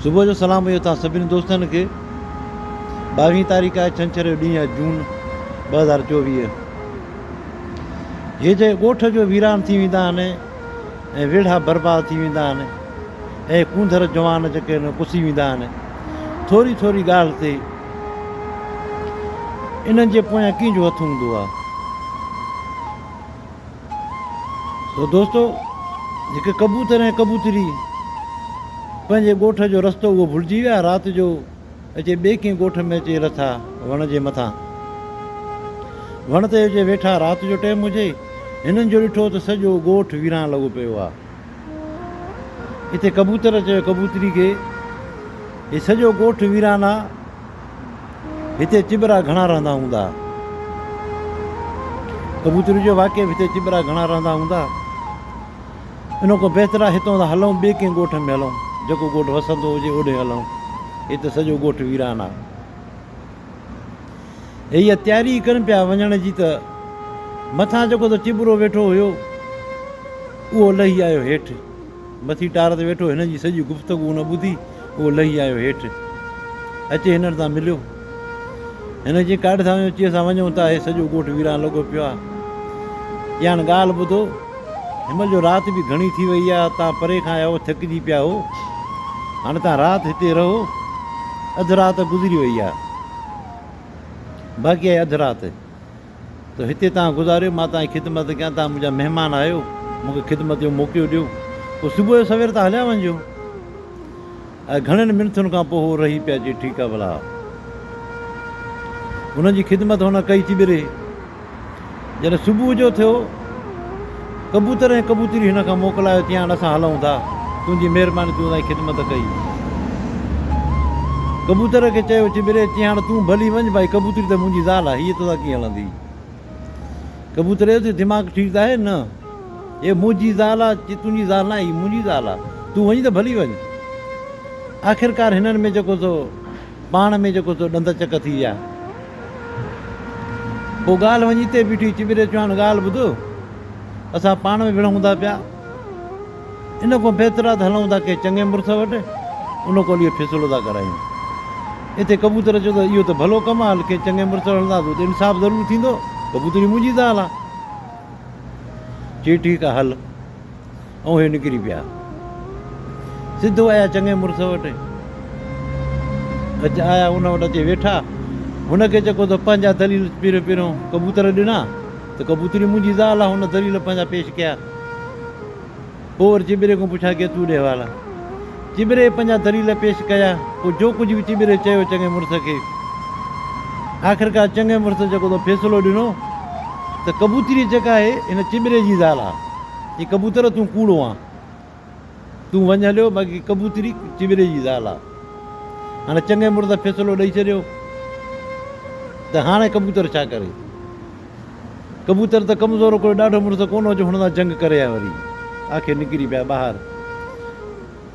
صبح جو سلام هيو توهان سڀني دوستن کي ٻاويهين تاريخ آهي ڇنڇر جو ڏينهن آهي جون ٻه هزار چوويهه هي جي ڳوٺ جو ويران ٿي ويندا آهن ۽ ويڙها برباد ٿي ويندا آهن ۽ ڪونڌر جوان جيڪي آهن پسي ويندا آهن ٿوري ٿوري ڳالهه تي انهن جي پويان ڪنهن جو هٿ هوندو آهي سو دوستو جيڪي ڪبوتر ۽ ڪبوتري پنهنجي ڳوٺ جو رستو اهو ڀلجي ويا رات جو اچي ٻئي ڪنهن ڳوٺ ۾ اچي لٿا وڻ جي مٿان وڻ تي اچي ويٺا رات جو ٽيم هجي هنن جو ڏٺو ته سڄو ڳوٺ ويران لڳو پيو آهي اتي ڪبوتر چيو ڪبوتري کي، هي سڄو ڳوٺ ويران آ، هتي چٻرا گهڻا رهندا هوندا ها. ڪبوتري چيو واقعي به هتي چٻرا گهڻا رهندا هوندا، ان کان بهتر آ هتان هلون ٻئي ڪنهن ڳوٺ ۾ هلون، جيڪو ڳوٺ وسندو هجي اوڏي هلون، هتي سڄو ڳوٺ ويران آ. هي اها تياري ئي ڪن پيا وڃڻ جي ته مٿان جيڪو ته چٻرو ويٺو هيو، اهو لهي آيو هيٺ. مٿي ٽار تي ويٺو هنن جي سڄي گفتگو هن ٻڌي، اهو لهي آيو هيٺ. اچي هنن سان مليو. هن چيائين، ڪاڏ ٿا وڃو؟ چي اسان وڃون ٿا، هي سڄو ڳوٺ ويران لڳو پيو آهي. چيائين، هاڻ ڳالهه ٻڌو. هنمهل جو رات به گهڻي ٿي وئي آ، تان پري کان آيا هو، ٿڪجي پيا هو. هاڻي تان رات هتي رهو. اڌ رات گذري وئي آ. باقي آهي اڌ رات. تو هتي تان گذاريو، مان تان جي خدمت ڪيان. تان منهنجا مهمان آهيو، مون کي خدمت جو موقعو ڏيو. پوء صبح جو سوير تان هليا وڃجو. گهڻين منٿن کان پوء هو رهي پيا چي ٺيڪ آ ڀلا هن جي خدمت هن ڪئي ٿي ٻري جڏهن صبح جو ٿيو ڪبوتر ۽ ڪبوتري هن کان موڪلايو چيان هاڻ اسان هلون ٿا تنهنجي مهرباني تون اسان جي خدمت ڪئي ڪبوتر کي چيو چي ٻري چي هاڻ تون ڀلي وڃ ڀائي ڪبوتري ته منهنجي زال آ هيء توسان ڪيئن هلندي. ڪبوتريء تي دماغ ٺيڪ ته آهي نه؟ اهي منهنجي زال آ، چي تنهنجي زال ناهي، هي منهنجي زال آ، تون وڃ ته ڀلي وڃ. آخرڪار هنن ۾ جيڪو سو پاڻ ۾ جيڪو سو ڏند چڪ ٿي ويا. پوء ڳالهه وڃي اتي بيٺي، چي ٻري چوهاڻ ڳالهه ٻڌ، اسان پاڻ ۾ وڙهون ٿا پيا. ان کان بهتر آ ته هلئون ٿا ڪنهن چڱي مڙس وٽ، ان کان اڳي فيصلو ٿا ڪرايون. اتي ڪبوتر چيو ته اهو ته ڀلو ڪم آ، هل ڪنهن چڱي مڙس وٽ هلنداسون، اتي انصاف ضرور ٿيندو، ڪبوتري منهنجي زال آ. چي ٺيڪ آ هل. ۽ اهي نڪري پيا. سڌو آيا چڱي مڙس وٽ. اچ آيا ان وٽ اچي ويٺا. هن کي چڪو ته پنهنجا دليل پيريون پيريون ڪبوتر ڏنا. ته ڪبوتري منهنجي زال آ هن دليل پنهنجا پيش ڪيا پوور چٻري کان پڇا ڪي تون ڏي حوالا چٻري پنهنجا دليل پيش ڪيا پو جو ڪجهه به چٻري چيو چڱي مڙس کي آخرڪار چڱي مڙس جيڪو تو فيصلو ڏنو ته ڪبوتري جيڪا آهي هن چٻري جي زال آ هي ڪبوتر تون ڪوڙو آ. تون وڃ هليو باقي ڪبوتري چٻري جي زال آ هاڻي چڱي مڙس فيصلو ڏئي ڇڏيو ته هاڻي ڪبوتر ڇا ڪري ڪبوتر ته ڪمزور ڪوئي ڏاڍو مڙس ڪونه هو جو هن سان جنگ ڪري ها وري آخر نڪري پيا ٻاهر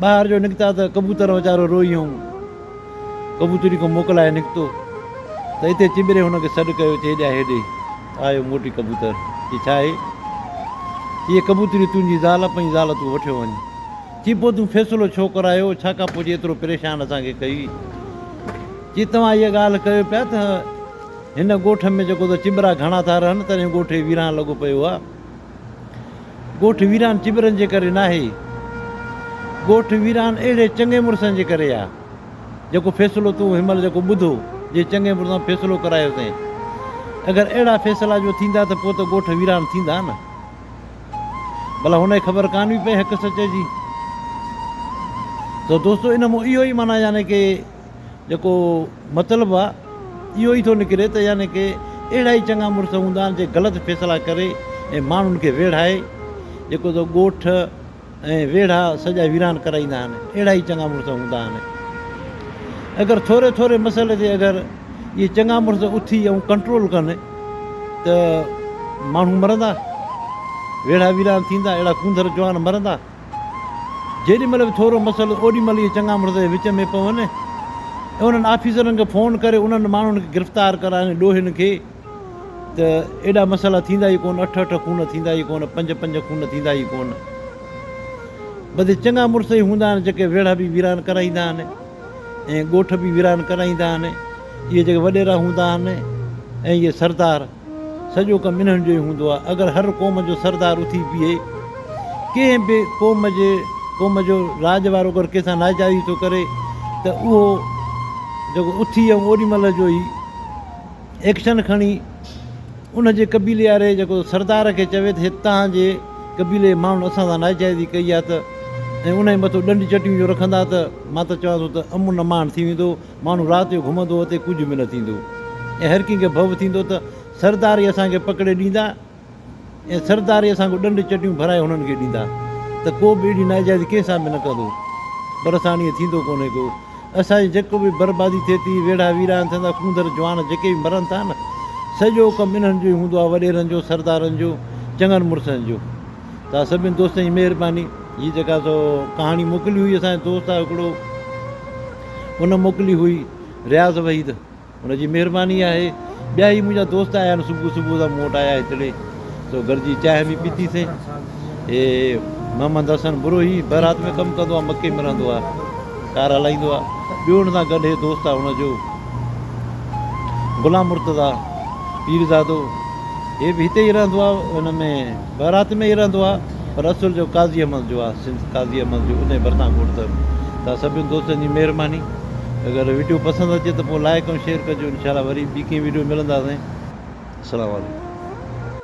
ٻاهر جو نڪتا ته ڪبوتر ويچارو روئي هئم ڪبوتري کان موڪلائي نڪتو ته هتي چٻري هن کي سڏ ڪيو چي ڏيا هيڏي آيو موٽي ڪبوتر چي ڇا هي چي ڪبوتريو تنهنجي زال پنهنجي زال تون وٺيو وڃ چي پوء تون فيصلو ڇو ڪرايو ڇا ڪا پوء جي ايترو پريشان اسان کي ڪئي چي توهان اها ڳالهه ڪيو پيا ته هن ڳوٺ ۾ جيڪو ته چٻرا گهڻا ٿا رهن تڏهن ڳوٺ هي ويران لڳو پيو آهي ڳوٺ ويران چٻرن جي ڪري ناهي ڳوٺ ويران اهڙي چڱي مڙسن جي ڪري آهي جيڪو فيصلو تون هن مهل جيڪو ٻڌو، جي چڱي مڙسان فيصلو ڪرايو تين. اگر اهڙا فيصلا جو ٿيندا ته پوء ته ڳوٺ ويران ٿيندا نه. ڀلا هن کي خبر ڪانه هئي پئي حق سچ جي. ته دوستو ان مون اهو ئي معنيٰ يعني ڪي جيڪو مطلب آ اهو ئي ٿو نڪري ته يعني ڪي اهڙا ئي چڱا مڙس هوندا آهن جي غلط فيصلا ڪري ۽ ماڻهن کي ويڙهائي جيڪو ته ڳوٺ ۽ ويڙها سڄا ويران ڪرائيندا آهن اهڙا ئي چڱا مڙس هوندا آهن اگر ٿوري ٿوري مسئلي تي اگر اهي چڱا مڙس اٿي ۽ ڪنٽرول ڪن ته ماڻهو مرندا ويڙها ويران ٿيندا اهڙا ڪونڌر جوان مرندا جيڏي مهل به ٿورو مسئلو اوڏي مهل اهي چڱا مڙس وچ ۾ پون انهن آفيسرن کي فون ڪري انهن ماڻهن کي گرفتار ڪرائن ڏوهين کي ته ايڏا مسئلا ٿيندا ئي ڪونه، اٺ اٺ خون ٿيندا ئي ڪونه، پنج پنج خون ٿيندا ئي ڪونه. بدي چڱا مڙس ئي هوندا آهن جيڪي ويڙها به ويران ڪرائيندا آهن ۽ ڳوٺ به ويران ڪرائيندا آهن. اهي جيڪي وڏيرا هوندا آهن ۽ اهي سردار سڄو ڪم انهن جو ئي هوندو آهي. اگر هر قوم جو سردار اٿي بيهي ڪنهن به قوم جي قوم جو راڄ وارو اگر ڪنهن سان ناجائزي ٿو ڪري ته اهو جيڪو اٿي ۽ اوڏي مهل جو ئي ايڪشن کڻي ان جي قبيلي واري جيڪو سردار کي چوي ته هتان جي قبيلي جي ماڻهن اسان سان ناجائزي ڪئي آهي ته ۽ ان جي مٿو ڏنڊ چٽيون جو رکندا ته مان ته چوان ٿو ته امن امان ٿي ويندو ماڻهو رات جو گهمندو اتي ڪجهه به نه ٿيندو ۽ هر ڪنهن کي ڀؤ ٿيندو ته سردار ئي اسان کي پڪڙي ڏيندا ۽ سرداري اسان کان ڏنڊ چٽيون ڀرائي هنن کي ڏيندا ته ڪو به اهڙي ناجائزي ڪنهن سان به نه ڪندو پر اسان وٽ ائين ٿيندو ڪونهي ڪو اسان جي جيڪو به بربادي ٿئي ٿي ويڙها ويران ٿين ٿا ڪونڌر جوان جيڪي به مرن ٿا نه سڄو ڪم انهن جو ئي هوندو آهي وڏيرن جو سردارن جو چڱن مڙسن جو توهان سڀني دوستن جي مهرباني هي جيڪا سو ڪهاڻي موڪلي هئي اسان جي دوست آهي هڪڙو ان موڪلي هئي رياض وحيد ان جي مهرباني آهي. ٻيا هي منهنجا دوست آيا آهن صبح صبح سان مون وٽ آيا هتڙي سو گڏجي چانهه به پيتي سين. هي محمد حسن بروهي بئرات ۾ ڪم ڪندو آهي مڪي ۾ رهندو آهي ڪار هلائيندو آهي ٻيو ان سان گڏ هي دوست آهي ان جو غلام مرتضيٰ پيرزادو هي به هتي ئي رهندو آهي ان ۾ بهرات ۾ ئي رهندو آ پر اصل جو قاضي احمد جو آ سنڌ قاضي احمد جو انهي ڀرسان کوڙ ته توهان سڀني دوستن جي مهرباني اگر وڊيو پسند اچي ته پوء لائيڪ ۽ شيئر ڪجو انشاء الله وري ٻي ڪنهن وڊيو ملنداسين السلام عليڪم.